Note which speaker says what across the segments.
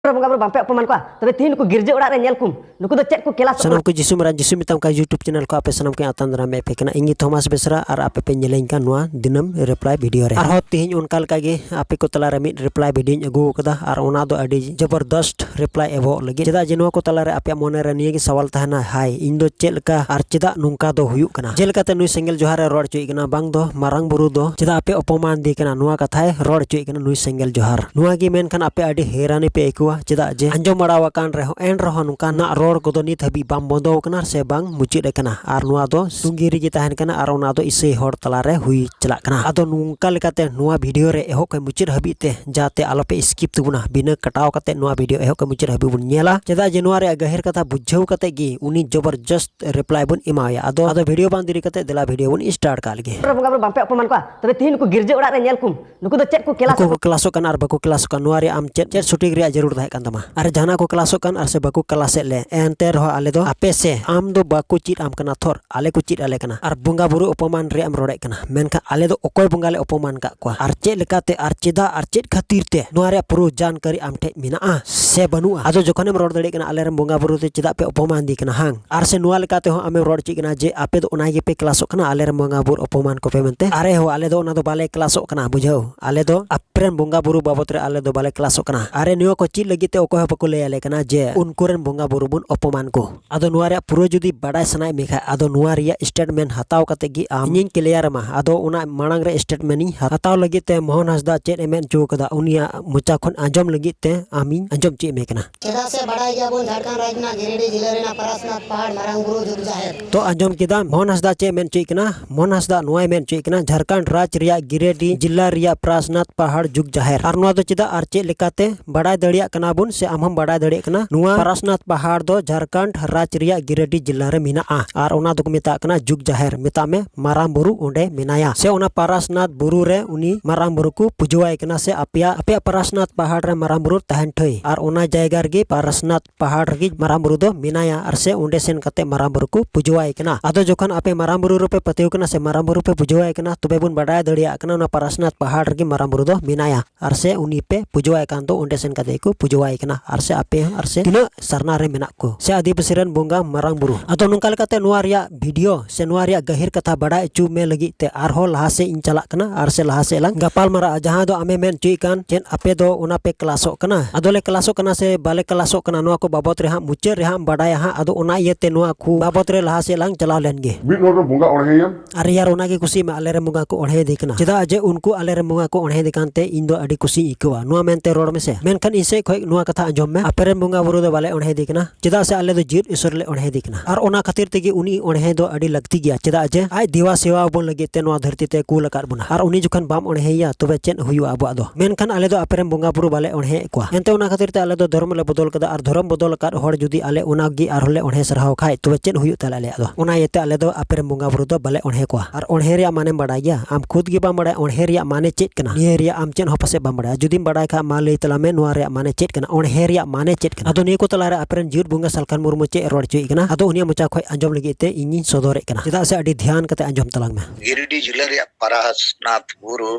Speaker 1: ᱵᱚᱸᱜᱟ ᱵᱩᱨᱩ ᱵᱟᱝᱯᱮ ᱚᱯᱚᱢᱟᱱ ᱠᱚᱣᱟ ᱛᱚᱵᱮ ᱛᱤᱦᱤᱧ ᱱᱩᱠᱩ ᱜᱤᱨᱡᱟᱹ ᱚᱲᱟᱜ ᱨᱮ ᱧᱮᱞ ᱠᱚᱢ ᱱᱩᱠᱩ ᱫᱚ ᱪᱮᱫ ᱠᱚ ᱠᱮᱞᱟᱥ ᱥᱟᱱᱟᱢ ᱠᱚ ᱡᱤᱥᱩ ᱢᱟᱨᱟᱝ ᱡᱤᱥᱩ
Speaker 2: ᱢᱮᱛᱟᱢ ᱠᱟᱱ ᱭᱩᱴᱩᱵᱽ ᱪᱮᱱᱮᱞ ᱠᱚ ᱟᱯᱮ ᱥᱟᱱᱟᱢ ᱠᱚ ᱟᱛᱟᱝ ᱫᱟᱨᱟᱢ ᱯᱮ ᱠᱟᱱᱟ ᱤᱧ ᱛᱷᱚᱢᱟᱥ ᱵᱮᱥᱨᱟ ᱟᱨ ᱟᱯᱮ ᱯᱮ ᱧᱮᱞᱤᱧ ᱠᱟᱱ ᱱᱚᱣᱟ ᱫᱤᱱᱟᱹᱢ ᱨᱤᱯᱞᱟᱭ ᱵᱷᱤᱰᱤᱭᱳ ᱨᱮ ᱟᱨᱦᱚᱸ ᱛᱤᱦᱤᱧ ᱚᱱᱠᱟ ᱞᱮᱠᱟ ᱜᱮ ᱟᱯᱮ ᱠᱚ ᱛᱟᱞᱟ ᱨᱮ ᱢᱤᱫ ᱨᱤᱯᱞᱟᱭ ᱵᱷᱤᱰᱤᱭᱳᱧ ᱟᱹᱜᱩ ᱟᱠᱟᱫᱟ ᱟᱨ ᱚᱱᱟ ᱫᱚ ᱟᱹᱰᱤ ᱡᱚᱵᱚᱨᱫᱚᱥᱛ ᱨᱤᱯᱞᱟᱭ ᱮᱵᱚᱜ ᱞᱟᱹᱜᱤᱫ ᱪᱮᱫᱟᱜ ᱡᱮ ᱱᱚᱣᱟ ᱠᱚ ᱛᱟᱞᱟ ᱨᱮ ᱟᱯᱮᱭᱟᱜ ᱢᱚᱱᱮ ᱨᱮ ᱱᱤᱭᱟᱹ ᱜᱮ ᱥᱟᱣᱟᱞ ᱛᱟᱦᱮᱱᱟ ᱦᱟᱭ ᱤᱧ ᱫᱚ ᱪᱮᱫ ᱞᱮᱠᱟ ᱟᱨ ᱪᱮᱫᱟᱜ ᱱᱚᱝᱠᱟ ᱫᱚ ᱦᱩᱭᱩᱜ ᱠᱟᱱᱟ ᱡᱮᱞᱮᱠᱟᱛᱮ ᱱᱩᱭ ᱥᱮᱸᱜᱮᱞ ᱡᱚᱦᱟᱨ ᱨᱮ ᱨᱚᱲ ᱦᱚᱪᱚᱭᱮ ᱠᱟᱱᱟ ᱵᱟᱝ ᱫᱚ ᱢᱟᱨᱟᱝ ᱵᱩᱨᱩ ᱫᱚ ᱪᱮᱫᱟᱜ ᱟᱯᱮ ᱚᱯᱚᱢᱟᱱ ᱫᱮ ᱠᱟᱱᱟ ᱱᱚᱣᱟ ᱠᱟᱛᱷᱟᱭ ᱨᱚᱲ ᱦᱚᱪᱚᱭᱮ ᱠᱟᱱᱟ ᱱᱩᱭ ᱥᱮᱸᱜᱮᱞ ᱡᱚᱦᱟᱨ ᱱᱚᱣᱟ ᱜᱮ ᱢᱮᱱᱠᱷᱟᱱ ᱟᱯᱮ ᱟᱹᱰᱤ ᱦᱮᱨᱟᱱᱤ ᱯᱮ ᱟᱹᱭᱠᱟᱹᱣᱟ ᱪᱮᱫᱟᱜ ᱡᱮ ᱟᱸᱡᱚᱢ ᱵᱟᱲᱟ ᱟᱠᱟᱱ ᱨᱮᱦᱚᱸ ᱮᱱ ᱨᱮᱦᱚᱸ ᱱᱚᱝᱠᱟᱱᱟᱜ ᱨᱚᱲ ᱠᱚᱫᱚ ᱱᱤᱛ ᱦᱟᱹᱵᱤᱡ ᱵᱟᱝ ᱵᱚᱱᱫᱚ ᱟᱠᱟᱱᱟ ᱥᱮ ᱵᱟᱝ ᱢᱩᱪᱟᱹᱫ ᱟᱠᱟᱱᱟ ᱟᱨ ᱱᱚᱣᱟ ᱫᱚ ᱥᱩᱝᱜᱤ ᱨᱮᱜᱮ ᱛᱟᱦᱮᱱ ᱠᱟᱱᱟ ᱟᱨ ᱚᱱᱟ ᱫᱚ ᱤᱥᱟᱹᱭ ᱦᱚᱲ ᱛᱟᱞᱟ ᱨᱮ ᱦᱩᱭ ᱪᱟᱞᱟᱜ ᱠᱟᱱᱟ ᱟᱫᱚ ᱱᱚᱝᱠᱟ ᱞᱮᱠᱟᱛᱮ ᱱᱚᱣᱟ ᱵᱷᱤᱰᱤᱭᱳ ᱨᱮ ᱮᱦᱚᱵ ᱠᱷᱚᱱ ᱢᱩᱪᱟᱹᱫ ᱦᱟᱹᱵᱤᱡ ᱛᱮ ᱡᱟᱛᱮ ᱟᱞᱚ ᱯᱮ ᱥᱠᱤᱯ ᱛᱟᱵᱚᱱᱟ ᱵᱤᱱᱟᱹ ᱠᱟᱴᱟᱣ ᱠᱟᱛᱮ ᱱᱚᱣᱟ ᱵᱷᱤᱰᱤᱭᱳ ᱮᱦᱚᱵ ᱠᱷᱚᱱ ᱢᱩᱪᱟᱹᱫ ᱦᱟᱹᱵᱤᱡ ᱵᱚᱱ ᱧᱮᱞᱟ ᱪᱮᱫᱟᱜ ᱡᱮ ᱱᱚᱣᱟ ᱨᱮᱭᱟᱜ ᱜᱟᱹᱦᱤᱨ ᱠᱟᱛᱷᱟ ᱵᱩᱡᱷᱟᱹᱣ ᱠᱟᱛᱮ ᱜᱮ ᱩᱱᱤ ᱡᱚᱵᱚᱨᱡᱚᱥᱛ ᱨᱤᱯᱞᱟᱭ ᱵᱚᱱ ᱮᱢᱟᱣᱟᱭᱟ ᱟᱫᱚ ᱟᱫᱚ ᱵᱷᱤᱰᱤᱭᱳ ᱵᱟᱝ ᱫᱮᱨᱤ ᱠᱟᱛᱮ ᱫᱮᱞᱟ ᱵᱷᱤᱰᱤᱭᱳ ᱵᱚᱱ ᱥᱴᱟᱨᱴ ᱠᱟᱜ ᱞᱮᱜᱮ ᱵᱚᱸᱜᱟ ᱵᱩᱨᱩ ᱵᱟᱝᱯᱮ ᱚᱯᱚᱢᱟᱱ ᱠᱚᱣᱟ
Speaker 1: ᱛᱚᱵᱮ ᱛᱤᱦᱤᱧ ᱱᱩᱠᱩ ᱜᱤᱨᱡᱟᱹ ᱚᱲᱟᱜ ᱨᱮ ᱧᱮᱞ ᱠᱚᱢ ᱱᱩᱠᱩ ᱫᱚ ᱪᱮᱫ ᱠᱚ ᱠᱮᱞᱟᱥ ᱠᱚ ᱠᱞᱟᱥᱚᱜ ᱠᱟᱱᱟ ᱟᱨ ᱵᱟᱠᱚ
Speaker 2: ᱠᱞᱟᱥᱚᱜ ᱠᱟᱱᱟ ᱱᱚᱣᱟ ᱨᱮ ᱟᱢ ᱪᱮᱫ ᱪᱮᱫ ᱥᱩᱴᱤᱝ ᱨᱮᱭᱟᱜ ᱡᱟᱹᱨᱩᱲ ᱛᱟᱦᱮᱸ ᱠᱟᱱ ᱛᱟᱢᱟ ᱟᱨ ᱡᱟᱦᱟᱱᱟᱜ ᱠᱚ ᱠᱞᱟᱥᱚᱜ ᱠᱟᱱ ᱟᱨ ᱥᱮ ᱵᱟᱠᱚ ᱠᱞᱟᱥᱮᱫ ᱞᱮ ᱮᱱᱛᱮ ᱨᱮᱦᱚᱸ ᱟᱞᱮ ᱫᱚ ᱟᱯᱮ ᱥᱮ ᱟᱢ ᱫᱚ ᱵᱟᱠᱚ ᱪᱮᱫ ᱟᱢ ᱠᱟᱱᱟ ᱛᱷᱚᱨ ᱟᱞᱮ ᱠᱚ ᱪᱮᱫ ᱟᱞᱮ ᱠᱟᱱᱟ ᱟᱨ ᱵᱚᱸᱜᱟ ᱵᱩᱨᱩ ᱚᱯᱚᱢᱟᱱ ᱨᱮᱭᱟᱜ ᱮᱢ ᱨᱚᱲᱮᱫ ᱠᱟᱱᱟ ᱢᱮᱱᱠᱷᱟᱱ ᱟᱞᱮ ᱫᱚ ᱚᱠᱚᱭ ᱵᱚᱸᱜᱟ ᱞᱮ ᱚᱯᱚᱢᱟᱱ ᱠᱟᱜ ᱠᱚᱣᱟ ᱟᱨ ᱪᱮᱫ ᱞᱮᱠᱟᱛᱮ ᱟᱨ ᱪᱮᱫᱟᱜ ᱟᱨ ᱪᱮᱫ ᱠᱷᱟᱹᱛᱤᱨ ᱛᱮ ᱱᱚᱣᱟ ᱨᱮᱭᱟᱜ ᱯᱩᱨᱟᱹ ᱡᱟᱱᱠᱟᱨᱤ ᱟᱢ ᱴᱷᱮᱡ ᱢᱮᱱᱟᱜᱼᱟ ᱥᱮ ᱵᱟᱹᱱᱩᱜᱼᱟ ᱟᱫᱚ ᱡᱚᱠᱷᱚᱱᱮᱢ ᱨᱚᱲ ᱫᱟᱲᱮᱭᱟᱜ ᱠᱟᱱᱟ ᱟᱞᱮ ᱨᱮᱱ ᱵᱚᱸᱜᱟ ᱵᱩᱨᱩ ᱫᱚ ᱪᱮᱫᱟᱜ ᱯᱮ ᱚᱯᱚᱢᱟᱱ ᱫᱤ ᱠᱟᱱᱟ ᱦᱟᱝ ᱟᱨ ᱥᱮ ᱱᱚᱣᱟ ᱞᱮᱠᱟ ᱛᱮᱦᱚᱸ ᱟᱢᱮᱢ ᱨᱚᱲ ᱦᱚᱪᱚᱭᱮ ᱠᱟᱱᱟ ᱡᱮ ᱟᱯᱮ ᱫᱚ ᱚᱱᱟ ᱜᱮᱯᱮ ᱠᱞᱟᱥᱚᱜ ᱠᱟᱱᱟ ᱟᱞᱮ ᱨᱮᱱ ᱵᱚᱸᱜᱟ ᱵᱳᱨᱳ ᱚᱯᱚᱢᱟᱱ ᱠᱚᱯᱮ ᱢᱮᱱᱛᱮ ᱟᱨᱮ ᱦᱳ ᱟᱞᱮ ᱫᱚ ᱚᱱᱟ ᱫᱚ ᱵᱟᱞᱮ ᱠᱞᱟᱥᱚᱜ ᱠᱟᱱᱟ ᱵᱩᱡᱷᱟᱹᱣ ᱟᱞᱮ ᱫᱚ ᱟᱯᱮ ᱨᱮᱱ ᱵᱚᱸᱜᱟ ᱵᱳᱨᱳ ᱵᱟᱵᱚᱫ ᱨᱮ ᱟᱞᱮ ᱫᱚ ᱵᱟᱞᱮ ᱠᱞᱟᱥᱚᱜ ᱠᱟᱱᱟ ᱟᱨᱮ ᱱᱚᱣᱟ ᱠᱚ ᱪᱮᱫ ᱞᱟᱹᱜᱤᱫ ᱛᱮ ᱚᱠᱚᱭ ᱦᱚᱸ ᱵᱟᱠᱚ ᱞᱟᱹᱭ ᱟᱞᱮ ᱠᱟᱱᱟ ᱡᱮ ᱩᱱᱠᱩ ᱨᱮᱱ ᱵᱚᱸᱜᱟ ᱵᱳᱨᱳ ᱵᱚᱱ ᱚᱯᱚᱢᱟᱱ ᱠᱚ ᱟᱫᱚ ᱱᱚᱣᱟ ᱨᱮᱭᱟᱜ ᱯᱩᱨᱟᱹ ᱡᱩᱫᱤ ᱵᱟᱰᱟᱭ ᱥᱟᱱᱟᱭᱮᱫ ᱢᱮ ᱠᱷᱟᱱ ᱟᱫᱚ ᱱᱚᱣᱟ ᱨᱮᱭᱟᱜ ᱥᱴᱮᱴᱢᱮᱱᱴ ᱦᱟᱛᱟᱣ ᱠᱟᱛᱮ ᱜᱮ ᱟᱢ ᱤᱧᱤᱧ ᱠᱞᱤᱭᱟᱨ ᱟᱢᱟ ᱟᱫᱚ ᱚᱱᱟ ᱢᱟᱲᱟᱝ ᱨᱮ ᱥᱴᱮᱴᱢᱮᱱᱴ ᱤᱧ ᱦᱟᱛᱟᱣ ᱞᱟᱹᱜᱤᱫ ᱛᱮ ᱢᱳᱦᱚᱱ ᱦᱟᱸᱥᱫᱟ ᱪᱮᱫ ᱮ ᱢᱮᱱ ᱦᱚᱪᱚ ᱟᱠᱟᱫᱟ ᱩᱱᱤᱭᱟᱜ ᱢᱚᱪᱟ ᱠᱷᱚᱱ ᱟᱸᱡᱚᱢ ᱞᱟᱹᱜᱤᱫ ᱛᱮ ᱟᱢᱤᱧ ᱟᱸᱡᱚᱢ ᱦᱚᱪᱚᱭᱮᱫ ᱢᱮ ᱠᱟᱱᱟ ᱪᱮᱫᱟᱜ ᱥᱮ ᱵᱟᱰᱟᱭ ᱜᱮᱭᱟᱵᱚᱱ
Speaker 3: ᱡᱷᱟᱲᱠᱷᱚᱸᱰ ᱨᱟᱡᱽ ᱨᱮᱱᱟᱜ ᱜᱤᱨᱤᱰᱤ ᱡᱤᱞᱟᱹ ᱨᱮᱱᱟᱜ ᱯᱟᱨᱟᱥᱱᱟᱛᱷ ᱯᱟᱦᱟᱲ ᱢᱟᱨᱟᱝ ᱵᱩᱨᱩ ᱡᱩᱜᱽ ᱡᱟᱦᱮᱨ ᱛᱚ ᱟᱸᱡᱚᱢ ᱠᱮᱫᱟ ᱢᱳᱦᱚᱱ
Speaker 2: ᱦᱟᱸᱥᱫᱟ ᱪᱮᱫ ᱢᱮᱱ ᱦᱚᱪᱚᱭᱮᱫ ᱠᱟᱱᱟ ᱢᱳᱦᱚᱱ ᱦᱟᱸᱥᱫᱟ ᱱᱚᱣᱟᱭ ᱢᱮᱱ ᱦᱚᱪᱚᱭᱮᱫ ᱠᱟᱱᱟ ᱡᱷᱟᱲᱠᱷᱚᱸᱰ ᱨᱟᱡᱽ ᱨᱮᱭᱟᱜ ᱜᱤᱨᱤᱰᱤ ᱡᱤᱞᱟ ᱨᱮᱭᱟᱜ ᱯᱟᱨᱟᱥᱱᱟᱛᱷ ᱯᱟᱦᱟᱲ ᱡᱩᱜᱽ ᱡᱟᱦᱮᱨ ᱟᱨ ᱱᱚᱣᱟ ᱫᱚ ᱪᱮᱫᱟᱜ ᱟᱨ ᱪᱮᱫ ᱞᱮᱠᱟᱛᱮ ᱵᱟᱰᱟᱭ ᱫᱟᱲᱮᱭᱟᱜ ᱠᱟᱱᱟ ᱵᱚᱱ ᱥᱮ ᱟᱢ ᱦᱚᱸ ᱵᱟᱰᱟᱭ ᱫᱟᱲᱮᱭᱟᱜ ᱠᱟᱱᱟ ᱱᱚᱣᱟ ᱯᱟᱨᱟᱥᱱᱟᱛᱷ ᱯᱟᱦᱟᱲ ᱫᱚ ᱡᱷᱟᱲᱠᱷᱚᱸᱰ ᱨᱟᱡᱽ ᱨᱮᱭᱟᱜ ᱜᱤᱨᱤᱰᱤ ᱡᱤᱞᱟ ᱨᱮ ᱢᱮᱱᱟᱜᱼᱟ ᱟᱨ ᱚᱱᱟ ᱫᱚᱠᱚ ᱢᱮᱛᱟᱜ ᱠᱟᱱᱟ ᱡᱩᱜᱽ ᱡᱟᱦᱮᱨ ᱢᱮᱛᱟᱜ ᱢᱮ ᱢᱟᱨᱟᱝ ᱵᱩᱨᱩ ᱚᱸᱰᱮ ᱢᱮᱱᱟᱭᱟ ᱥᱮ ᱚᱱᱟ ᱯᱟᱨᱟᱥᱱᱟᱛᱷ ᱵᱩᱨᱩ ᱨᱮ ᱩᱱᱤ ᱢᱟᱨᱟᱝ ᱵᱩᱨᱩ ᱠᱚ ᱯᱩᱡᱟᱹᱣᱟᱭ ᱠᱟᱱᱟ ᱥᱮ ᱟᱯᱮᱭᱟᱜ ᱟᱯᱮᱭᱟᱜ ᱯᱟᱨᱟᱥᱱᱟᱛᱷ ᱯᱟᱦᱟᱲ ᱨᱮ ᱢᱟᱨᱟᱝ ᱵᱩᱨᱩ ᱛᱟᱦᱮᱱ ᱴᱷᱟᱹᱭ ᱟᱨ ᱚᱱᱟ ᱡᱟᱭᱜᱟ ᱨᱮᱜᱮ ᱯᱟᱨᱟᱥᱱᱟᱛᱷ ᱯᱟᱦᱟᱲ ᱨᱮᱜᱮ ᱢᱟᱨᱟᱝ ᱵᱩᱨᱩ ᱫᱚ ᱢᱮᱱᱟᱭᱟ ᱟᱨ ᱥᱮ ᱚᱸᱰᱮ ᱥᱮᱱ ᱠᱟᱛᱮ ᱢᱟᱨᱟᱝ ᱵᱩᱨᱩ ᱠᱚ ᱯᱩᱡᱟᱹᱣᱟᱭ ᱠᱟᱱᱟ ᱟᱫᱚ ᱡᱚᱠᱷᱚᱱ ᱟᱯᱮ ᱢᱟᱨᱟᱝ ᱵᱩᱨᱩ ᱨᱮᱯᱮ ᱯᱟᱹᱛᱭᱟᱹᱣ ᱠᱟᱱᱟ ᱥᱮ ᱢᱟᱨᱟᱝ ᱵᱩᱨᱩ ᱯᱮ ᱯᱩᱡᱟᱹᱣᱟᱭ ᱠᱟᱱᱟ ᱛᱚᱵᱮ ᱵᱚᱱ ᱵᱟᱰᱟᱭ ᱫᱟᱲᱮᱭᱟᱜ ᱠᱟᱱᱟ ᱚᱱᱟ ᱯᱟᱨᱟᱥᱱᱟᱛᱷ ᱯᱟᱦᱟᱲ ᱨᱮᱜᱮ ᱢᱟᱨᱟᱝ ᱵᱩᱨᱩ ᱫᱚ ᱢᱮᱱᱟᱭᱟ ᱟᱨ ᱥᱮ ᱩᱱᱤ ᱯᱮ ᱯᱩᱡᱟᱹᱣᱟᱭ ᱠᱟᱱ ᱫᱚ ᱚᱸᱰᱮ ᱥᱮᱱ ᱠᱟᱛᱮ ᱠᱚ ᱯᱩᱡᱟᱹᱣᱟᱭ ᱠᱟᱱᱟ ᱟᱨ ᱥᱮ ᱟᱯᱮ ᱦᱚᱸ ᱟᱨ ᱥᱮ ᱛᱤᱱᱟᱹᱜ ᱥᱟᱨᱱᱟ ᱨᱮ ᱢᱮᱱᱟᱜ ᱠᱚ ᱥᱮ ᱟᱹᱫᱤᱵᱟᱹᱥᱤ ᱨᱮᱱ ᱵᱚᱸᱜᱟ ᱢᱟᱨᱟᱝ ᱵᱩᱨᱩ ᱟᱫᱚ ᱱᱚᱝᱠᱟ ᱞᱮᱠᱟᱛᱮ ᱱᱚᱣᱟ ᱨᱮᱭᱟᱜ ᱵᱷᱤᱰᱤᱭᱳ ᱥᱮ ᱱᱚᱣᱟ ᱨᱮᱭᱟᱜ ᱜᱟᱹᱦᱤᱨ ᱠᱟᱛᱷᱟ ᱵᱟᱰᱟᱭ ᱚᱪᱚ ᱢᱮ ᱞᱟᱹᱜᱤᱫ ᱛᱮ ᱟᱨᱦᱚᱸ ᱞᱟᱦᱟ ᱥᱮᱫ ᱤᱧ ᱪᱟᱞᱟᱜ ᱠᱟᱱᱟ ᱟᱨ ᱥᱮ ᱞᱟᱦᱟ ᱥᱮᱫ ᱞᱟᱝ ᱜᱟᱯᱟᱞ ᱢᱟᱨᱟᱜᱼᱟ ᱡᱟᱦᱟᱸ ᱫᱚ ᱟᱢᱮ ᱢᱮᱱ ᱚᱪᱚᱭᱮᱫ ᱠᱟᱱ ᱪᱮᱫ ᱟᱯᱮ ᱫᱚ ᱚᱱᱟ ᱯᱮ ᱠᱞᱟᱥᱚᱜ ᱠᱟᱱᱟ ᱟᱫᱚ ᱞᱮ ᱠᱞᱟᱥᱚᱜ ᱠᱟᱱᱟ ᱥᱮ ᱵᱟᱞᱮ ᱠᱞᱟᱥᱚᱜ ᱠᱟᱱᱟ ᱱᱚᱣᱟ ᱠᱚ ᱵᱟᱵᱚᱫ ᱨᱮ ᱦᱟᱸᱜ ᱢᱩᱪᱟᱹᱫ ᱨᱮ ᱦᱟᱸᱜ ᱵᱟᱰᱟᱭᱟ ᱦᱟᱸᱜ ᱟᱫᱚ ᱚᱱᱟ ᱤᱭᱟᱹᱛᱮ ᱱᱚᱣᱟ ᱠᱚ ᱵᱟᱵᱚᱫ ᱨᱮ ᱞᱟᱦᱟ ᱥᱮᱫ ᱞᱟᱝ ᱪᱟᱞᱟᱣ ᱞᱮᱱ ᱜᱮ ᱢᱤᱫ ᱦᱚᱲ ᱫᱚ ᱵᱚᱸᱜᱟ ᱚᱬᱦᱮᱭᱮᱢ
Speaker 4: ᱟᱨ ᱨᱮᱭᱟᱲ ᱚᱱᱟ ᱜᱮ ᱠᱩᱥᱤ
Speaker 2: ᱢᱟ ᱟᱞᱮ ᱨᱮᱱ ᱵᱚᱸᱜᱟ ᱠᱚ ᱚᱬᱦᱮ ᱫᱮ ᱠᱟᱱᱟ ᱪᱮᱫᱟᱜ ᱡᱮ ᱩᱱᱠᱩ ᱟᱞᱮ ᱨᱮᱱ ᱵᱚᱸᱜᱟ ᱠᱚ ᱚᱬᱦᱮ ᱫᱮ ᱠᱟᱱ ᱛᱮ ᱤᱧ ᱫᱚ ᱟᱹᱰᱤ ᱠᱩᱥᱤᱧ ᱟᱹᱭᱠᱟᱹᱣᱟ ᱱᱚᱣᱟ ᱢᱮᱱ ᱛᱮ ᱨᱚᱲ ᱢᱮᱥᱮ ᱢᱮᱱᱠᱷᱟᱱ ᱤᱧ ᱥᱮᱫ ᱠᱷᱚᱱ ᱱᱚᱣᱟ ᱠᱟᱛᱷᱟ ᱟᱸᱡᱚᱢ ᱢᱮ ᱟᱯᱮ ᱨᱮᱱ ᱵᱚᱸᱜᱟ ᱵᱩᱨᱩ ᱫᱚ ᱵᱟᱞᱮ ᱚᱬᱦᱮ ᱫᱮ ᱠᱟᱱᱟ ᱪᱮᱫᱟᱜ ᱥᱮ ᱟᱞᱮ ᱫᱚ ᱡᱤᱭᱟᱹᱛ ᱤᱥᱚᱨ ᱞᱮ ᱚᱬᱦᱮ ᱫᱮ ᱠᱟᱱᱟ ᱟᱨ ᱚᱱᱟ ᱠᱷᱟᱹᱛᱤᱨ ᱛᱮᱜᱮ ᱩᱱᱤ ᱚᱬᱦᱮ ᱫᱚ ᱟᱹᱰᱤ ᱞᱟᱹᱠᱛᱤ ᱜᱮᱭᱟ ᱪᱮᱫᱟᱜ ᱡᱮ ᱟᱡ ᱫᱮᱣᱟ ᱥᱮᱣᱟ ᱟᱵᱚᱱ ᱞᱟᱹᱜᱤᱫ ᱛᱮ ᱱᱚᱣᱟ ᱫᱷᱟᱹᱨᱛᱤ ᱛᱮ ᱠᱩᱞ ᱟᱠᱟᱫ ᱵᱚᱱᱟ ᱟᱨ ᱩᱱᱤ ᱡᱚᱠᱷᱚᱱ ᱵᱟᱢ ᱚᱬᱦᱮᱭᱟ ᱛᱚᱵᱮ ᱪᱮᱫ ᱦᱩᱭᱩᱜᱼᱟ ᱟᱵᱚᱣᱟᱜ ᱫᱚ ᱢᱮᱱᱠᱷᱟᱱ ᱟᱞᱮ ᱫᱚ ᱟᱯᱮ ᱨᱮᱱ ᱵᱚᱸᱜᱟ ᱵᱩᱨᱩ ᱵᱟᱞᱮ ᱚᱬᱦᱮ ᱮᱫ ᱠᱚᱣᱟ ᱮᱱᱛᱮ ᱚᱱᱟ ᱠᱷᱟᱹᱛᱤᱨ ᱛᱮ ᱟᱞᱮ ᱫᱚ ᱫᱷᱚᱨᱚᱢ ᱞᱮ ᱵᱚᱫᱚᱞ ᱠᱟᱫᱟ ᱟᱨ ᱫᱷᱚᱨᱚᱢ ᱵᱚᱫᱚᱞ ᱟᱠᱟᱫ ᱦᱚᱲ ᱡᱩᱫᱤ ᱟᱞᱮ ᱚᱱᱟ ᱜᱮ ᱟᱨᱦᱚᱸ ᱞᱮ ᱚᱬᱦᱮ ᱥᱟᱨᱦᱟᱣ ᱠᱷᱟᱱ ᱛᱚᱵᱮ ᱪᱮᱫ ᱦᱩᱭᱩᱜ ᱛᱟᱞᱮᱭᱟ ᱟᱞᱮᱭᱟᱜ ᱟᱫᱚ ᱚᱱᱟ ᱤᱭᱟᱹᱛᱮ ᱟᱞᱮ ᱫᱚ ᱟᱯᱮ ᱨᱮᱱ ᱵᱚᱸᱜᱟ ᱵᱩᱨᱩ ᱫᱚ ᱵᱟᱞᱮ ᱚᱬᱦᱮ ᱠᱚᱣᱟ ᱟᱨ ᱚᱬᱦᱮ ᱨᱮᱭᱟᱜ ᱢᱟᱱᱮᱢ ᱵᱟᱲᱟᱭ ᱜᱮᱭᱟ ᱟᱢ ᱠᱷᱩᱫᱽ ᱜᱮ ᱵᱟᱢ ᱵᱟᱲᱟᱭᱟ ᱚᱬᱦᱮ ᱨᱮᱭᱟᱜ ᱢᱟᱱᱮ ᱪᱮᱫ ᱠᱟᱱᱟ ᱱᱤᱭᱟᱹ ᱨᱮᱭᱟᱜ ᱟᱢ ᱪᱮᱫ ᱦᱚᱸ ᱯᱟᱥᱮᱡ ᱵᱟᱢ ᱵᱟᱲᱟᱭᱟ ᱡᱩᱫᱤᱢ ᱵᱟᱲᱟᱭ ᱠᱷᱟᱡ ᱢᱟ ᱞᱟᱹᱭ ᱛᱟᱞᱟᱝ ᱢᱮ ᱱᱚᱣᱟ ᱨᱮᱭᱟᱜ ᱢᱟᱱᱮ ᱪᱮᱫ ᱠᱟᱱᱟ ᱚᱬᱦᱮ ᱨᱮᱭᱟᱜ ᱢᱟᱱᱮ ᱪᱮᱫ ᱠᱟᱱᱟ ᱟᱫᱚ ᱱᱤᱭᱟᱹ ᱠᱚ ᱛᱟᱞᱟᱨᱮ ᱟᱯᱮ ᱨᱮᱱ ᱡᱤᱭᱟᱹᱲ ᱵᱚᱸᱜᱟ ᱥᱟᱞᱠᱷᱟᱱ ᱢᱩᱨᱢᱩ ᱪᱮᱫ ᱮ ᱨᱚᱲ ᱦᱚᱪᱚᱭᱮᱫ ᱠᱟᱱᱟ ᱟᱫᱚ ᱩᱱᱤᱭᱟᱜ ᱢᱚᱪᱟ ᱠᱷᱚᱡ ᱟᱸᱡᱚᱢ ᱞᱟᱹᱜᱤᱫ ᱛᱮ ᱤᱧᱤᱧ ᱥᱚᱫᱚᱨᱮᱫ ᱠᱟᱱᱟ ᱪᱮᱫᱟᱜ ᱥᱮ ᱟᱹᱰᱤ ᱫᱷᱮᱭᱟᱱ ᱠᱟᱛᱮ ᱟᱸᱡᱚᱢ ᱛᱟᱞᱟᱝ ᱢᱮ ᱜᱤᱨᱤᱰᱤ ᱡᱤᱞᱟᱹ ᱨᱮᱭᱟᱜ
Speaker 5: ᱯᱟᱨᱟᱥᱱᱟᱛᱷ ᱵᱩᱨᱩ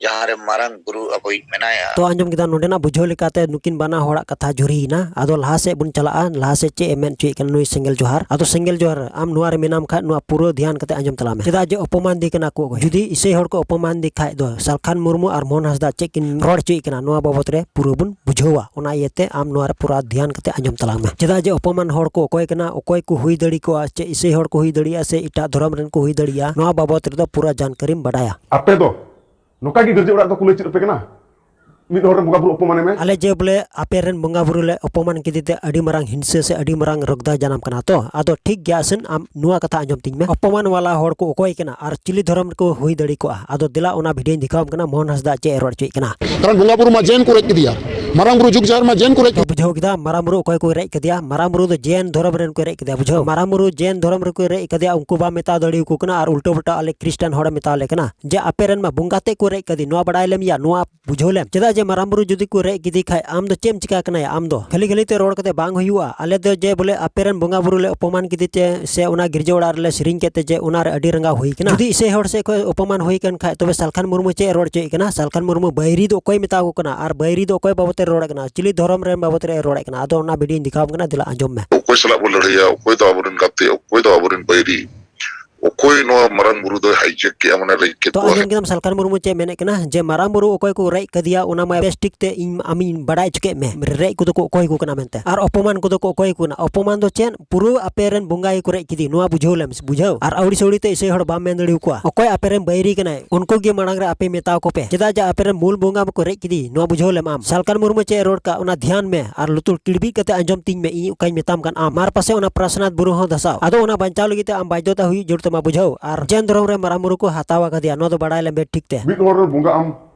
Speaker 5: ᱡᱟᱦᱟᱸ ᱨᱮ ᱢᱟᱨᱟᱝ ᱵᱩᱨᱩ ᱟᱵᱚᱭᱤᱡ ᱢᱮᱱᱟᱭᱟ ᱛᱚ ᱟᱸᱡᱚᱢ ᱠᱮᱫᱟ ᱱᱚᱰᱮᱱᱟᱜ
Speaker 2: ᱵᱩᱡᱷᱟᱹᱣ ᱞᱮᱠᱟᱛᱮ ᱱᱩᱠᱤᱱ ᱵᱟᱱᱟ ᱦᱚᱲᱟᱜ ᱠᱟᱛᱷᱟ ᱡᱩᱨᱤᱭᱮᱱᱟ ᱟᱫᱚ ᱞᱟᱦᱟ ᱥᱮᱫ ᱵᱚᱱ ᱪᱟᱞᱟᱜᱼᱟ ᱞᱟᱦᱟ ᱥᱮᱫ ᱪᱮᱫ ᱮ ᱢᱮᱱ ᱦᱚᱪᱚᱭᱮᱫ ᱠᱟᱱᱟ ᱱᱩᱭ ᱥᱮᱸᱜᱮᱞ ᱡᱚᱦᱟᱨ ᱟᱫᱚ ᱥᱮᱸᱜᱮᱞ ᱡᱚᱦᱟᱨ ᱟᱢ ᱱᱚᱣᱟ ᱨᱮ ᱢᱮᱱᱟᱢ ᱠᱷᱟᱡ ᱱᱚᱣᱟ ᱯᱩᱨᱟᱹ ᱫᱷᱮᱭᱟᱱ ᱠᱟᱛᱮ ᱟᱸᱡᱚᱢ ᱛᱟᱞᱟᱝ ᱢᱮ ᱪᱮᱫᱟᱜ ᱡᱮ ᱚᱯᱚᱢᱟᱱ ᱫᱮ ᱠᱟᱱᱟ ᱠᱚ ᱡᱩᱫᱤ ᱤᱥᱟᱹᱭ ᱦᱚᱲ ᱠᱚ ᱚᱯᱚᱢᱟᱱ ᱫᱮ ᱠᱷᱟᱡ ᱫᱚ ᱥᱟᱞᱠᱷᱟᱱ ᱢᱩᱨᱢᱩ ᱟᱨ ᱢᱳᱦᱚᱱ ᱦᱟᱸᱥᱫᱟ ᱪᱮᱫ ᱠᱤᱱ ᱨᱚᱲ ᱦᱚᱪᱚᱭᱮᱫ ᱠᱟᱱᱟ ᱱᱚᱣᱟ ᱵᱟᱵᱚᱛ ᱨᱮ ᱯᱩᱨᱟᱹ ᱵᱚᱱ ᱵᱩᱡᱷᱟᱹᱣᱟ ᱚᱱᱟ ᱤᱭᱟᱹᱛᱮ ᱟᱢ ᱱᱚᱣᱟ ᱨᱮ ᱯᱩᱨᱟᱹ ᱫᱷᱮᱭᱟᱱ ᱠᱟᱛᱮ ᱟᱸᱡᱚᱢ ᱛᱟᱞᱟᱝ ᱢᱮ ᱪᱮᱫᱟᱜ ᱡᱮ ᱚᱯᱚᱢᱟᱱ ᱦᱚᱲ ᱠᱚ ᱚᱠᱚᱭ ᱠᱟᱱᱟ ᱚᱠᱚᱭ ᱠᱚ ᱦᱩᱭ ᱫᱟᱲᱮ ᱠᱚᱜᱼᱟ ᱪᱮᱫ ᱤᱥᱟᱹᱭ ᱦᱚᱲ ᱠᱚ ᱦᱩᱭ ᱫᱟᱲᱮᱭᱟᱜᱼᱟ ᱥᱮ ᱮᱴᱟᱜ ᱫᱷᱚᱨᱚᱢ ᱨᱮᱱ ᱠᱚ ᱦᱩᱭ ᱫᱟᱲᱮᱭᱟᱜᱼᱟ ᱱᱚᱣᱟ ᱵᱟᱵᱚᱛ ᱨᱮᱫᱚ ᱯᱩᱨᱟᱹ ᱡᱟᱱᱠᱟᱨᱤᱢ ᱵᱟᱰᱟᱭᱟ ᱟᱯᱮ ᱫᱚ
Speaker 4: ᱱᱚᱝᱠᱟ ᱜᱮ ᱜᱟᱹᱨᱡᱤ ᱚᱲᱟᱜ ᱫᱚ ᱠᱩᱞᱟᱹᱭ ᱪᱮᱫ ᱟᱯᱮ ᱠᱟᱱᱟ ᱢᱤᱫ ᱦᱚᱲ ᱨᱮᱱ ᱵᱚᱸᱜᱟ ᱵᱩᱨᱩ ᱚᱯᱚᱢᱟᱱᱮ ᱢᱮ ᱟᱞᱮ ᱡᱮ ᱵᱚᱞᱮ ᱟᱯᱮ
Speaker 2: ᱨᱮᱱ ᱵᱚᱸᱜᱟ ᱵᱩᱨᱩ ᱞᱮ ᱚᱯᱚᱢᱟᱱ ᱠᱮᱫᱮ ᱛᱮ ᱟᱹᱰᱤ ᱢᱟᱨᱟᱝ ᱦᱤᱝᱥᱟᱹ ᱥᱮ ᱟᱹᱰᱤ ᱢᱟᱨᱟᱝ ᱨᱚᱜᱽᱫᱟ ᱡᱟᱱᱟᱢ ᱠᱟᱱᱟ ᱛᱚ ᱟᱫᱚ ᱴᱷᱤᱠ ᱜᱮᱭᱟ ᱟᱥᱮᱱ ᱟᱢ ᱱᱚᱣᱟ ᱠᱟᱛᱷᱟ ᱟᱸᱡᱚᱢ ᱛᱤᱧ ᱢᱮ ᱚᱯᱚᱢᱟᱱ ᱣᱟᱞᱟ ᱦᱚᱲ ᱠᱚ ᱚᱠᱚᱭ ᱠᱟᱱᱟ ᱟᱨ ᱪᱤᱞᱤ ᱫᱷᱚᱨᱚᱢ ᱨᱮᱠᱚ ᱦᱩᱭ ᱫᱟᱲᱮ ᱠᱚᱜᱼᱟ ᱟᱫᱚ ᱫᱮᱞᱟ ᱚᱱᱟ ᱵᱷᱤᱰᱤᱭᱳᱧ ᱫᱮᱠᱷᱟᱣᱟᱢ ᱠᱟᱱᱟ ᱢᱳᱦᱚᱱ ᱦᱟᱸᱥᱫᱟ ᱪᱮᱫ ᱮ ᱨᱚᱲ ᱦᱚᱪᱚᱭᱮᱫ ᱠᱟᱱᱟ ᱠᱟᱨᱚᱱ ᱵᱚᱸᱜᱟ ᱵᱩᱨᱩ ᱢᱟ ᱡᱮᱱ
Speaker 6: ᱠᱚ ᱨᱮᱡ ᱠᱮᱫᱮᱭᱟ ᱢᱟᱨᱟᱝ ᱵᱩᱨᱩ ᱡᱩᱜᱽ ᱡᱟᱦᱮᱨ ᱢᱟ ᱡᱮᱱ ᱠᱚ ᱨᱮᱡ ᱵᱩᱡᱷᱟᱹᱣ ᱠᱮᱫᱟ ᱢᱟᱨᱟᱝ ᱵᱩᱨᱩ
Speaker 2: ᱚᱠᱚᱭ ᱠᱚ ᱨᱮᱡ ᱠᱮᱫᱮᱭᱟ ᱢᱟᱨᱟᱝ ᱵᱩᱨᱩ ᱫᱚ ᱡᱮᱱ ᱫᱷᱚᱨᱚᱢ ᱨᱮᱱ ᱠᱚ ᱨᱮᱡ ᱠᱮᱫᱮᱭᱟ ᱵᱩᱡᱷᱟᱹᱣ ᱢᱟᱨᱟᱝ ᱵᱩᱨᱩ ᱡᱮᱱ ᱫᱷᱚᱨᱚᱢ ᱨᱮᱠᱚ ᱨᱮᱡ ᱠᱮᱫᱮᱭᱟ ᱩᱱᱠᱩ ᱵᱟ ᱢᱮᱛᱟ ᱫᱟᱲᱮ ᱠᱚ ᱠᱟᱱᱟ ᱟᱨ ᱩᱞᱴᱟᱹ ᱯᱩᱞᱴᱟᱹ ᱟᱞᱮ ᱠᱨᱤᱥᱴᱟᱱ ᱦᱚᱲ ᱢᱮᱛᱟ ᱞᱮ ᱠᱟᱱᱟ ᱡᱮ ᱟᱯᱮ ᱨᱮᱱ ᱢᱟ ᱵᱚᱸᱜᱟ ᱛᱮ ᱠᱚ ᱨᱮᱡ ᱠᱟᱫᱮ ᱱᱚᱣᱟ ᱵᱟᱲᱟᱭ ᱞᱮᱢ ᱭᱟ ᱱᱚᱣᱟ ᱵᱩᱡᱷᱟᱹᱣ ᱞᱮᱢ ᱪᱮᱫᱟᱜ ᱡᱮ ᱢᱟᱨᱟᱝ ᱵᱩᱨᱩ ᱡᱩᱫᱤ ᱠᱚ ᱨᱮᱡ ᱠᱮᱫᱮ ᱠᱷᱟᱡ ᱟᱢ ᱫᱚ ᱪᱮᱢ ᱪᱤᱠᱟ ᱠᱟᱱᱟ ᱟᱢ ᱫᱚ ᱠᱷᱟᱹᱞᱤ ᱠᱷᱟᱹᱞᱤ ᱛᱮ ᱨᱚᱲ ᱠᱟᱛᱮ ᱵᱟᱝ ᱦᱩᱭᱩᱜᱼᱟ ᱟᱞᱮ ᱫᱚ ᱡᱮ ᱵᱚᱞᱮ ᱟᱯᱮ ᱨᱮᱱ ᱵᱚᱸᱜᱟ ᱵᱩᱨᱩ ᱞᱮ ᱚᱯᱚᱢᱟᱱ ᱠᱮᱫᱮ ᱛᱮ ᱥᱮ ᱚᱱᱟ ᱜᱤᱨᱡᱟᱹ ᱚᱲᱟᱜ ᱨᱮᱞᱮ ᱥᱮᱨᱮᱧ ᱠᱮᱫ ᱛᱮ ᱡᱮ ᱚᱱᱟ ᱨᱮ ᱟᱹᱰᱤ ᱨᱟᱸᱜᱟᱣ ᱦᱩᱭ ᱠᱟᱱᱟ ᱡᱩᱫᱤ ᱤᱥᱟᱹᱭ ᱦᱚᱲ ᱥᱮᱫ ᱠᱷᱚᱱ ᱚᱯᱚᱢᱟᱱ ᱦᱩᱭ ᱠᱟᱱ ᱠᱷᱟᱡ ᱛᱚᱵᱮ ᱥᱟᱞᱠᱷᱟᱱ ᱢᱩᱨᱢᱩ ᱪᱮᱫ ᱮ ᱨᱚᱲ ᱦᱚᱪᱚᱭᱮᱫ ᱠᱟᱱᱟ ᱥᱟᱞᱠᱷᱟᱱ ᱢᱩᱨᱢᱩ ᱵᱟᱹᱭᱨᱤ ᱫᱚ ᱚᱠᱚᱭ ᱢᱮᱛᱟ ᱠᱚ ᱠᱟᱱᱟ ᱟᱨ ᱵᱟᱹᱭᱨᱤ ᱫᱚ ᱚᱠᱚᱭ ᱵᱟᱵᱚᱛ ᱨᱮ ᱨᱚᱲ ᱠᱟᱱᱟ ᱪᱤᱞᱤ ᱫᱷᱚᱨᱚᱢ ᱨᱮᱱ ᱵᱟᱵᱚᱛ ᱨᱮ ᱨᱚᱲ ᱠᱟᱱᱟ ᱟᱫᱚ ᱚᱱᱟ ᱵᱷᱤᱰᱤᱭᱳᱧ ᱫᱮᱠᱷᱟᱣ ᱟᱢ ᱠᱟᱱᱟ ᱫᱮᱞᱟ ᱟᱸᱡᱚᱢ ᱢᱮ ᱚᱠᱚᱭ ᱥᱟᱞᱟᱜ ᱵᱚ ᱞᱟᱹᱲᱦᱟᱹᱭᱟ
Speaker 7: ᱚᱠᱚᱭ ᱫᱚ ᱟᱵᱚᱨᱮᱱ ᱜᱟᱛᱮ ᱚᱠᱚᱭ ᱫᱚ ᱟᱵᱚᱨᱮᱱ ᱵᱟᱹᱭᱨᱤ ᱚᱠᱚᱭ ᱱᱚᱣᱟ ᱢᱟᱨᱟᱝ ᱵᱩᱨᱩ ᱫᱚᱭ ᱦᱟᱭᱡᱮᱠ ᱠᱮᱜᱼᱟ ᱢᱟᱱᱮ ᱨᱮᱡ ᱠᱮᱫ ᱛᱚ ᱟᱸᱡᱚᱢ ᱠᱮᱫᱟᱢ ᱥᱟᱞᱠᱷᱟᱱ
Speaker 2: ᱢᱩᱨᱢᱩ ᱪᱮᱫ ᱢᱮᱱᱮᱫ ᱠᱟᱱᱟ ᱡᱮ ᱢᱟᱨᱟᱝ ᱵᱩᱨᱩ ᱚᱠᱚᱭ ᱠᱚ ᱨᱮᱡ ᱠᱟᱫᱮᱭᱟ ᱚᱱᱟ ᱢᱟ ᱵᱮᱥ ᱴᱷᱤᱠ ᱛᱮ ᱤᱧ ᱟᱢᱤᱧ ᱵᱟᱰᱟᱭ ᱦᱚᱪᱚ ᱠᱮᱫ ᱢᱮ ᱨᱮᱡ ᱠᱚᱫᱚ ᱠᱚ ᱚᱠᱚᱭ ᱠᱚ ᱠᱟᱱᱟ ᱢᱮᱱᱛᱮ ᱟᱨ ᱚᱯᱚᱢᱟᱱ ᱠᱚᱫᱚ ᱠᱚ ᱚᱠᱚᱭ ᱠᱚ ᱠᱟᱱᱟ ᱚᱯᱚᱢᱟᱱ ᱫᱚ ᱪᱮᱫ ᱯᱩᱨᱟᱹ ᱟᱯᱮ ᱨᱮᱱ ᱵᱚᱸᱜᱟ ᱜᱮᱠᱚ ᱨᱮᱡ ᱠᱮᱫᱮ ᱱᱚᱣᱟ ᱵᱩᱡᱷᱟᱹᱣ ᱞᱮᱢ ᱵᱩᱡᱷᱟᱹᱣ ᱟᱨ ᱟᱹᱣᱲᱤ ᱥᱟᱹᱣᱲᱤ ᱛᱮ ᱤᱥᱟᱹᱭ ᱦᱚᱲ ᱵᱟᱢ ᱢᱮᱱ ᱫᱟᱲᱮ ᱟᱠᱚᱣᱟ ᱚᱠᱚᱭ ᱟᱯᱮ ᱨᱮᱱ ᱵᱟᱹᱭᱨᱤ ᱠᱟᱱᱟᱭ ᱩᱱᱠᱩ ᱜᱮ ᱢᱟᱲᱟᱝ ᱨᱮ ᱟᱯᱮ ᱢᱮᱛᱟᱣ ᱠᱚ ᱯᱮ ᱪᱮᱫᱟᱜ ᱡᱮ ᱟᱯᱮ ᱨᱮᱱ ᱢᱩᱞ ᱵᱚᱸᱜᱟ ᱢᱟᱠᱚ ᱨᱮᱡ ᱠᱮᱫᱮ ᱱᱚᱣᱟ ᱵᱩᱡᱷᱟᱹᱣ ᱞᱮᱢ ᱟᱢ ᱥᱟᱞᱠᱟᱱ ᱢᱩᱨᱢᱩ ᱪᱮᱫ ᱨᱚᱲ ᱠᱟᱜ ᱚᱱᱟ ᱫᱷᱭᱟᱱ ᱢᱮ ᱟᱨ ᱞᱩᱛᱩᱨ ᱠᱤᱲᱵᱤᱡ ᱠᱟᱛᱮ ᱟᱸᱡᱚᱢ ᱛᱤᱧ ᱢᱮ ᱤᱧ ᱚᱠᱟᱧ ᱢᱮᱛᱟᱢ ᱠᱟᱱ ᱟᱢ ᱢᱟᱨ ᱯᱟᱥᱮ ᱚᱱᱟ ᱯᱨᱟᱥᱱᱟᱛᱷ ᱵᱩᱨᱩ ᱦᱚᱸ ᱫᱷᱟᱥᱟᱣ ᱟᱫᱚ ᱚᱱᱟ ᱵᱟᱧᱪᱟᱣ ᱞᱟᱹᱜᱤᱫ ᱛᱮ ᱟᱢ ᱵᱟᱫᱽᱫᱷᱚᱛᱟ ᱦᱩᱭᱩᱜ ᱡᱟᱹᱨᱩᱲ ᱛᱟᱢᱟ ᱵᱩᱡᱷᱟᱹᱣ ᱟᱨ ᱡᱮᱱ ᱫᱷᱚᱨᱚᱢ ᱨᱮ ᱢᱟᱨᱟᱝ ᱵᱩᱨᱩ ᱠᱚ ᱦᱟᱛᱟᱣ ᱟᱠᱟᱫᱮᱭᱟ ᱱᱚᱣᱟ ᱫᱚ ᱵᱟᱲᱟᱭ ᱞᱮᱢ ᱵᱮᱥ ᱴᱷᱤᱠ ᱛᱮ ᱢᱤᱫ ᱦᱚᱲ ᱨᱮᱱ ᱵᱚᱸᱜᱟ ᱟᱢ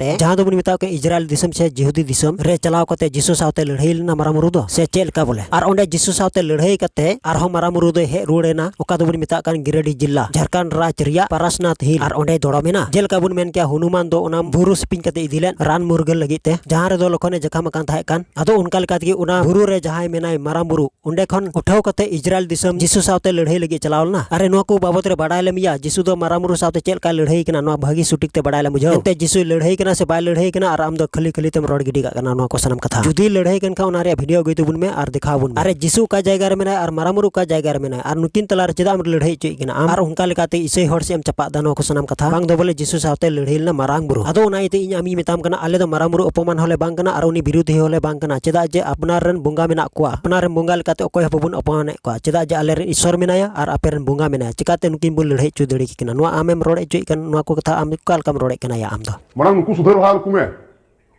Speaker 2: ᱛᱮ ᱡᱟᱦᱟᱸ ᱫᱚᱵᱚᱱ ᱢᱮᱛᱟᱣ ᱠᱟᱱ ᱤᱡᱽᱨᱟᱭᱮᱞ ᱫᱤᱥᱚᱢ ᱥᱮ ᱡᱤᱦᱩᱫᱤ ᱫᱤᱥᱚᱢ ᱨᱮ ᱪᱟᱞᱟᱣ ᱠᱟᱛᱮ ᱡᱤᱥᱩ ᱥᱟᱶᱛᱮ ᱞᱟᱹᱲᱦᱟᱹᱭ ᱞᱮᱱᱟ ᱢᱟᱨᱟᱝ ᱵᱩᱨᱩ ᱫᱚ ᱥᱮ ᱪᱮᱫ ᱞᱮᱠᱟ ᱵᱚᱞᱮ ᱟᱨ ᱚᱸᱰᱮ ᱡᱤᱥᱩ ᱥᱟᱶᱛᱮ ᱞᱟᱹᱲᱦᱟᱹᱭ ᱠᱟᱛᱮ ᱟᱨᱦᱚᱸ ᱢᱟᱨᱟᱝ ᱵᱩᱨᱩ ᱫᱚᱭ ᱦᱮᱡ ᱨᱩᱣᱟᱹᱲ ᱮᱱᱟ ᱚᱠᱟ ᱫᱚᱵᱚᱱ ᱢᱮᱛᱟᱜ ᱠᱟᱱ ᱜᱤᱨᱟᱹᱰᱤ ᱡᱤᱞᱟ ᱡᱷᱟᱨᱠᱷᱚᱸᱰ ᱨᱟᱡᱽ ᱨᱮᱭᱟᱜ ᱯᱟᱨᱟᱥᱱᱟᱛᱷ ᱦᱤᱞ ᱟᱨ ᱚᱸᱰᱮ ᱫᱚᱲᱚᱢ ᱮᱱᱟ ᱡᱮᱞᱮᱠᱟ ᱵᱚᱱ ᱢᱮᱱ ᱠᱮᱭᱟ ᱦᱩᱱᱩᱢᱟᱱ ᱫᱚ ᱚᱱᱟ ᱵᱩᱨᱩ ᱥᱤᱯᱤᱧ ᱠᱟᱛᱮ ᱤᱫᱤ ᱞᱮᱫ ᱨᱟᱱ ᱢᱩᱨᱜᱟᱹᱱ ᱞᱟᱹᱜᱤᱫ ᱛᱮ ᱡᱟᱦᱟᱸ ᱨᱮᱫᱚ ᱞᱚᱠᱷᱚᱱᱮ ᱡᱟᱠᱟᱢ ᱟᱠᱟᱱ ᱛᱟᱦᱮᱸ ᱠᱟᱱ ᱟᱫᱚ ᱚᱱᱠᱟ ᱞᱮᱠᱟ ᱛᱮᱜᱮ ᱚᱱᱟ ᱵᱩᱨᱩ ᱨᱮ ᱡᱟᱦᱟᱸᱭ ᱢᱮᱱᱟᱭ ᱢᱟᱨᱟᱝ ᱵᱩᱨᱩ ᱚᱸᱰᱮ ᱠᱷᱚᱱ ᱩᱴᱷᱟᱹᱣ ᱠᱟᱛᱮ ᱤᱡᱽᱨᱟᱭᱮᱞ ᱫᱤᱥᱚᱢ ᱡᱤᱥᱩ ᱥᱟᱶᱛᱮ ᱞᱟᱹᱲᱦᱟᱹᱭ ᱞᱟᱹᱜᱤᱫ ᱪᱟᱞᱟᱣ ᱞᱮᱱᱟ ᱟᱨ ᱱᱚᱣᱟ ᱠᱚ ᱵᱟᱵᱚᱫ ᱨᱮ ᱵᱟᱰᱟᱭ ᱞᱮᱢ ᱭᱟ ᱡᱤᱥᱩ ᱫᱚ ᱢᱟᱨᱟᱢᱩᱨᱩ ᱥᱟᱶᱛᱮ ᱪᱮᱫ ᱞᱮᱠᱟᱭ ᱞᱟᱹᱲᱦᱟᱹᱭ ᱠᱟᱱᱟ ᱱᱚᱣᱟ ᱵᱷᱟᱹᱜᱤ ᱥᱩᱴᱤᱠ ᱛᱮ ᱵᱟᱰᱟᱭ ᱞᱮᱢ ᱵᱩᱡᱷᱟᱹᱣ ᱮᱱᱛᱮ ᱡᱤᱥᱩᱭ ᱞᱟᱹᱲᱦᱟᱹᱭ ᱠᱟᱱᱟ ᱥᱮ ᱵᱟᱭ ᱞᱟᱹᱲᱦᱟᱹᱭ ᱠᱟᱱᱟ ᱟᱨ ᱟᱢ ᱫᱚ ᱠᱷᱟᱹᱞᱤ ᱠᱷᱟᱹᱞᱤ ᱛᱮᱢ ᱨᱚᱲ ᱜᱤᱰᱤ ᱠᱟᱜ ᱠᱟᱱᱟ ᱱᱚᱣᱟ ᱠᱚ ᱥᱟᱱᱟᱢ ᱠᱟᱛᱷᱟ ᱡᱩᱫᱤ ᱞᱟᱹᱲᱦᱟᱹᱭ ᱠᱟᱱ ᱠᱷᱟᱱ ᱚᱱᱟ ᱨᱮᱭᱟᱜ ᱵᱷᱤᱰᱤᱭᱳ ᱟᱹᱜᱩᱭ ᱛᱟᱵᱚᱱ ᱢᱮ ᱟᱨ ᱫᱮᱠᱷᱟᱣ ᱵᱚᱱ ᱢᱮ ᱟᱨ ᱡᱤᱥᱩ ᱚᱠᱟ ᱡᱟᱭᱜᱟ ᱨᱮ ᱢᱮᱱᱟᱭᱟ ᱟᱨ ᱢᱟᱨᱟᱢᱩᱨᱩ ᱚᱠᱟ ᱡᱟᱭᱜᱟ ᱨᱮ ᱢᱮᱱᱟᱭᱟ ᱟᱨ ᱱᱩᱠᱤᱱ ᱛᱟᱞᱟᱨᱮ ᱪᱮᱫᱟᱜ ᱮᱢ ᱞᱟᱹᱲᱦᱟᱹᱭ ᱦᱚᱪᱚᱭᱮᱫ ᱠᱤᱱᱟ ᱟᱢ ᱟᱨ ᱚᱱᱠᱟ ᱞᱮᱠᱟᱛᱮ ᱤᱥᱟᱹᱭ ᱦᱚᱲ ᱥᱮᱫ ᱮᱢ ᱪᱟᱯᱟᱜ ᱫᱟ ᱱᱚᱣᱟ ᱠᱚ ᱥᱟᱱᱟᱢ ᱠᱟᱛᱷᱟ ᱵᱟᱝ ᱫᱚ ᱵᱚᱞᱮ ᱡᱤᱥᱩ ᱥᱟᱶᱛᱮ ᱞᱟᱹᱲᱦᱟᱹᱭ ᱞᱮᱱᱟ ᱢᱟᱨᱟᱝ ᱵᱩᱨᱩ ᱟᱫᱚ ᱚᱱᱟ ᱤᱭᱟᱹᱛᱮ ᱤᱧ ᱟᱢᱤᱧ ᱢᱮᱛᱟᱢ ᱠᱟᱱᱟ ᱟᱞᱮ ᱫᱚ ᱢᱟᱨᱟᱝ ᱵᱩᱨᱩ ᱚᱯᱚᱢᱟᱱ ᱦᱚᱸᱞᱮ ᱵᱟᱝ ᱠᱟᱱᱟ ᱟᱨ ᱩᱱᱤ ᱵᱤᱨᱩᱫᱷᱤ ᱦᱚᱸᱞᱮ ᱵᱟᱝ ᱠᱟᱱᱟ ᱪᱮᱫᱟᱜ ᱡᱮ ᱟᱯᱱᱟᱨ ᱨᱮᱱ ᱵᱚᱸᱜᱟ ᱢᱮᱱᱟᱜ ᱠᱚᱣᱟ ᱟᱯᱱᱟᱨ ᱨᱮᱱ ᱵᱚᱸᱜᱟ ᱞᱮᱠᱟᱛᱮ ᱚᱠᱚᱭ ᱦᱚᱸ ᱵᱟᱵᱚᱱ ᱚᱯᱚᱢᱟᱱᱮᱫ ᱠᱚᱣᱟ ᱪᱮᱫᱟᱜ ᱡᱮ ᱟᱞᱮᱨᱮᱱ ᱤᱥᱥᱚᱨ ᱢᱮᱱᱟᱭᱟ ᱟᱨ ᱟᱯᱮ ᱨᱮᱱ ᱵᱚᱸᱜᱟ ᱢᱮᱱᱟᱭᱟ ᱪᱤᱠᱟᱹᱛᱮ ᱱᱩᱠᱤᱱ ᱵᱚᱱ ᱞᱟᱹᱲᱦᱟᱹᱭ ᱦᱚᱪᱚ ᱫᱟᱲᱮ ᱠᱤᱱᱟ ᱱᱚᱣᱟ ᱟᱢᱮᱢ ᱨᱚᱲ ᱦᱚᱪᱚᱭᱮᱫ ᱠᱟᱱ ᱱᱚᱣᱟ ᱠᱚ ᱠᱟᱛᱷᱟ ᱟᱢ ᱚᱠᱟ ᱞᱮᱠᱟᱢ ᱨᱚᱲᱮᱫ ᱠᱟᱱᱟ ᱭᱟ ᱟᱢ ᱫᱚ ᱢᱟᱲᱟᱝ ᱱᱩᱠᱩ ᱥᱩᱫᱷᱟᱹᱨ ᱵᱟᱦᱟᱞ ᱠᱚᱢᱮ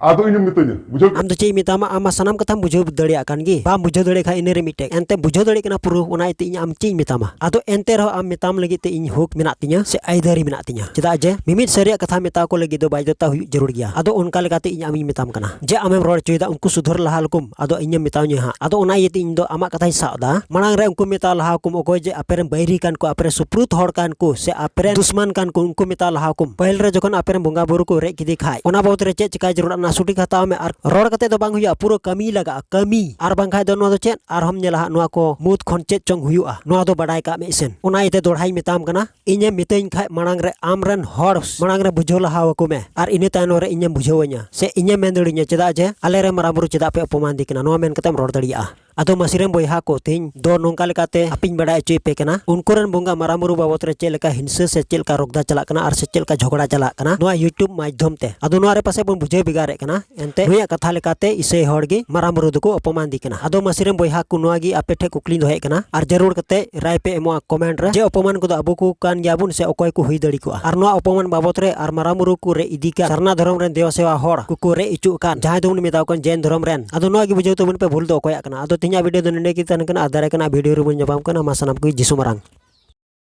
Speaker 4: ᱟᱫᱚ ᱤᱧᱮᱢ ᱢᱤᱛᱟᱹᱧᱟ ᱵᱩᱡᱷᱟᱹᱣ ᱟᱢ ᱫᱚ ᱪᱮᱫ ᱤᱧ ᱢᱮᱛᱟᱢᱟ ᱟᱢ ᱢᱟ
Speaker 2: ᱥᱟᱱᱟᱢ ᱠᱟᱛᱷᱟᱢ ᱵᱩᱡᱷᱟᱹᱣ ᱫᱟᱲᱮᱭᱟᱜ ᱠᱟᱱ ᱜᱮ ᱵᱟᱢ ᱵᱩᱡᱷᱟᱹᱣ ᱫᱟᱲᱮᱭᱟᱜ ᱠᱷᱟᱱ ᱤᱱᱟᱹᱨᱮ ᱢᱤᱫᱴᱮᱡ ᱮᱱᱛᱮ ᱵᱩᱡᱷᱟᱹᱣ ᱫᱟᱲᱮᱭᱟᱜ ᱠᱟᱱᱟ ᱯᱩᱨᱟᱹ ᱚᱱᱟ ᱤᱭᱟᱹᱛᱮ ᱤᱧ ᱟᱢ ᱪᱮᱫ ᱤᱧ ᱢᱮᱛᱟᱢᱟ ᱟᱫᱚ ᱮᱱᱛᱮ ᱨᱮᱦᱚᱸ ᱟᱢ ᱢᱮᱛᱟᱢ ᱞᱟᱹᱜᱤᱫ ᱛᱮ ᱤᱧ ᱦᱚᱸᱠ ᱢᱮᱱᱟᱜ ᱛᱤᱧᱟᱹ ᱥᱮ ᱟᱹᱭᱫᱟᱹᱨᱤ ᱢᱮᱱᱟᱜ ᱛᱤᱧᱟᱹ ᱪᱮᱫᱟᱜ ᱡᱮ ᱢᱤᱢᱤᱫ ᱥᱟᱹᱨᱤᱭᱟᱜ ᱠᱟᱛᱷᱟ ᱢᱮᱛᱟ ᱠᱚ ᱞᱟᱹᱜᱤᱫ ᱫᱚ ᱵᱟᱫᱽᱫᱷᱚᱛᱟ ᱦᱩᱭᱩᱜ ᱡᱟᱹᱨᱩᱲ ᱜᱮᱭᱟ ᱟᱫᱚ ᱚᱱᱠᱟ ᱞᱮᱠᱟᱛᱮ ᱤᱧ ᱟᱢᱤᱧ ᱢᱮᱛᱟᱢ ᱠᱟᱱᱟ ᱡᱮ ᱟᱢᱮᱢ ᱨᱚᱲ ᱦᱚᱪᱚᱭᱮᱫᱟ ᱩᱱᱠᱩ ᱥᱩᱫᱷᱟᱹᱨ ᱞᱟᱦᱟ ᱞᱮᱠᱚᱢ ᱟᱫᱚ ᱤᱧᱮᱢ ᱢᱮᱛᱟᱣᱧᱟ ᱦᱟᱸᱜ ᱟᱫᱚ ᱚᱱᱟ ᱤᱭᱟᱹᱛᱮ ᱤᱧ ᱫᱚ ᱟᱢᱟᱜ ᱠᱟᱛᱷᱟᱧ ᱥᱟᱵ ᱮᱫᱟ ᱢᱟᱲᱟᱝ ᱨᱮ ᱩᱱᱠᱩ ᱢᱮᱛᱟᱣ ᱞᱟᱦᱟ ᱠᱚᱢ ᱚᱠᱚᱭ ᱡᱮ ᱟᱯᱮᱨᱮᱱ ᱵᱟᱹᱭᱨᱤ ᱠᱟᱱ ᱠᱚ ᱟᱯᱮᱨᱮ ᱥᱩᱯᱨᱩᱛ ᱦᱚᱲ ᱠᱟᱱ ᱠᱚ ᱥᱮ ᱟᱯᱮᱨᱮ ᱫᱩᱥᱢᱟᱱ ᱠᱟᱱ ᱠᱚ ᱩᱱᱠᱩ ᱢᱮᱛᱟᱣ ᱞᱟᱦᱟ ᱠᱚᱢ ᱯᱟᱹᱦᱤᱞ ᱨᱮ ᱡᱚᱠᱷᱚᱱ ᱟᱯᱮᱨᱮᱱ ᱵᱚᱸᱜᱟ ᱵᱩᱨᱩ ᱠᱚ ᱨᱮᱡ ᱠᱮᱫᱮ ᱠᱷᱟᱡ ᱚᱱᱟ ᱵᱟᱵᱚᱫ ᱨᱮ ᱪᱮᱫ ᱪᱮᱠᱟᱭ ᱡᱟᱹᱨᱩᱲᱟ ᱚᱱᱟ ᱥᱩᱴᱤ ᱦᱟᱛᱟᱣ ᱢᱮ ᱟᱨ ᱨᱚᱲ ᱠᱟᱛᱮ ᱫᱚ ᱵᱟᱝ ᱦᱩᱭᱩᱜᱼᱟ ᱯᱩᱨᱟᱹ ᱠᱟᱹᱢᱤ ᱞᱟᱜᱟᱜᱼᱟ ᱠᱟᱹᱢᱤ ᱟᱨ ᱵᱟᱝᱠᱷᱟᱡ ᱫᱚ ᱱᱚᱣᱟ ᱫᱚ ᱪᱮᱫ ᱟᱨᱦᱚᱢ ᱧᱮᱞᱟ ᱦᱟᱸᱜ ᱱᱚᱣᱟ ᱠᱚ ᱢᱩᱫᱽ ᱠᱷᱚᱱ ᱪᱮᱫ ᱪᱚᱝ ᱦᱩᱭᱩᱜᱼᱟ ᱱᱚᱣᱟ ᱫᱚ ᱵᱟᱰᱟᱭ ᱠᱟᱜ ᱢᱮ ᱤᱥᱮᱱ ᱚᱱᱟ ᱤᱭᱟᱹᱛᱮ ᱫᱚᱲᱦᱟᱧ ᱢᱮᱛᱟᱢ ᱠᱟᱱᱟ ᱤᱧᱮ ᱢᱤᱛᱟᱹᱧ ᱠᱷᱟᱡ ᱢᱟᱲᱟᱝ ᱨᱮ ᱟᱢ ᱨᱮᱱ ᱦᱚᱲ ᱢᱟᱲᱟᱝ ᱨᱮ ᱵᱩᱡᱷᱟᱹᱣ ᱞᱟᱦᱟ ᱟᱠᱚ ᱢᱮ ᱟᱨ ᱤᱱᱟᱹ ᱛᱟᱭᱱᱚᱢ ᱨᱮ ᱤᱧᱮᱢ ᱵᱩᱡᱷᱟᱹᱣᱟᱹᱧᱟ ᱥᱮ ᱤᱧᱮ ᱢᱮᱱ ᱫᱟᱲᱮᱧᱟ ᱪᱮᱫᱟᱜ ᱡᱮ ᱟᱞᱮ ᱨᱮ ᱢᱟᱨᱟᱝ ᱵᱩᱨᱩ ᱪᱮᱫᱟᱜ ᱯᱮ ᱚᱯᱚᱢᱟᱱ ᱫᱤ ᱠᱟᱱᱟ ᱱᱚᱣᱟ ᱢᱮᱱ ᱠᱟᱛᱮᱢ ᱨᱚᱲ ᱫᱟᱲᱮᱭᱟᱜᱼᱟ ᱟᱫᱚ ᱢᱟᱹᱥᱤ ᱨᱮᱱ ᱵᱚᱭᱦᱟ ᱠᱚ ᱛᱮᱦᱮᱧ ᱫᱚ ᱱᱚᱝᱠᱟ ᱞᱮᱠᱟᱛᱮ ᱟᱯᱮᱧ ᱵᱟᱰᱟᱭ ᱦᱚᱪᱚᱭ ᱯᱮ ᱠᱟᱱᱟ ᱩᱱᱠᱩ ᱨᱮᱱ ᱵᱚᱸᱜᱟ ᱢᱟᱨᱟᱝ ᱵᱩᱨᱩ ᱵᱟᱵᱚᱛ ᱨᱮ ᱪᱮᱫ ᱞᱮᱠᱟ ᱦᱤᱝᱥᱟᱹ ᱥᱮ ᱪᱮᱫ ᱞᱮᱠᱟ ᱨᱚᱜᱽᱫᱟ ᱪᱟᱞᱟᱜ ᱠᱟᱱᱟ ᱟᱨ ᱥᱮ ᱪᱮᱫ ᱞᱮᱠᱟ ᱡᱷᱚᱜᱽᱲᱟ ᱪᱟᱞᱟᱜ ᱠᱟᱱᱟ ᱱᱚᱣᱟ ᱤᱭᱩᱴᱩᱵᱽ ᱢᱟᱫᱽᱫᱷᱚᱢ ᱛᱮ ᱟᱫᱚ ᱱᱚᱣᱟ ᱨᱮ ᱯᱟᱥᱮᱡ ᱵᱚᱱ ᱵᱩᱡᱷᱟᱹᱣ ᱵᱷᱮᱜᱟᱨᱮᱫ ᱠᱟᱱᱟ ᱮᱱᱛᱮ ᱱᱩᱭᱟᱜ ᱠᱟᱛᱷᱟ ᱞᱮᱠᱟᱛᱮ ᱤᱥᱟᱹᱭ ᱦᱚᱲ ᱜᱮ ᱢᱟᱨᱟᱝ ᱵᱩᱨᱩ ᱫᱚᱠᱚ ᱚᱯᱚᱢᱟᱱᱫᱤ ᱠᱟᱱᱟ ᱟᱫᱚ ᱢᱟᱹᱥᱤ ᱨᱮᱱ ᱵᱚᱭᱦᱟ ᱠᱚ ᱱᱚᱣᱟ ᱜᱮ ᱟᱯᱮ ᱴᱷᱮᱱ ᱠᱩᱠᱞᱤ ᱫᱚᱦᱚᱭᱮᱫ ᱠᱟᱱᱟ ᱟᱨ ᱡᱟᱹᱨᱩᱲ ᱠᱟᱛᱮ ᱨᱟᱭ ᱯᱮ ᱮᱢᱚᱜᱼᱟ ᱠᱚᱢᱮᱱᱴ ᱨᱮ ᱡᱮ ᱚᱯᱚᱢᱟᱱ ᱠᱚᱫᱚ ᱟᱵᱚ ᱠᱚ ᱠᱟᱱ ᱜᱮᱭᱟ ᱵᱚᱱ ᱥᱮ ᱚᱠᱚᱭ ᱠᱚ ᱦᱩᱭ ᱫᱟᱲᱮ ᱠᱚᱜᱼᱟ ᱟᱨ ᱱᱚᱣᱟ ᱚᱯᱚᱢᱟᱱ ᱵᱟᱵᱚᱛ ᱨᱮ ᱟᱨ ᱢᱟᱨᱟᱝ ᱵᱩᱨᱩ ᱠᱚ ᱨᱮ ᱤᱫᱤ ᱠᱟᱱ ᱥᱟᱨᱱᱟ ᱫᱷᱚᱨᱚᱢ ᱨᱮᱱ ᱫᱮᱣᱟ ᱥᱮᱣᱟ ᱦᱚᱲ ᱠᱚᱠᱚ ᱨᱮ ᱤᱪᱩᱜ ᱠᱟᱱ ᱡᱟᱦᱟᱸᱭ ᱫᱚᱵᱚᱱ ᱢᱮᱛᱟᱣ ᱠᱟᱱ ᱡᱮᱱ ᱫᱷᱚᱨᱚᱢ ᱨᱮᱱ ᱟᱫᱚ ᱱᱚᱣᱟ ᱜᱮ ᱵᱩᱡᱷᱟᱹᱣ ᱛᱟᱵᱚᱱ ᱯᱮ ᱵᱷᱩᱞ ᱫᱚ ᱚᱠᱚᱭᱟᱜ ᱠᱟᱱᱟ ᱟᱫᱚ ᱛᱮᱦᱮᱧᱟᱜ ᱵᱷᱤᱰᱤᱭᱳ ᱫᱚ ᱱᱚᱰᱮ ᱜᱮ ᱛᱟᱦᱮᱱ ᱠᱟᱱᱟ ᱟᱨ ᱫᱟᱨᱮ ᱠᱟᱱᱟ ᱵᱷᱤᱰᱤᱭᱳ ᱨᱮᱵᱚᱱ ᱧᱟᱯᱟᱢ ᱠᱟᱱᱟ ᱢᱟ ᱥᱟᱱᱟᱢ ᱠᱚ ᱡᱤᱥᱩ ᱢᱟᱨᱟᱝ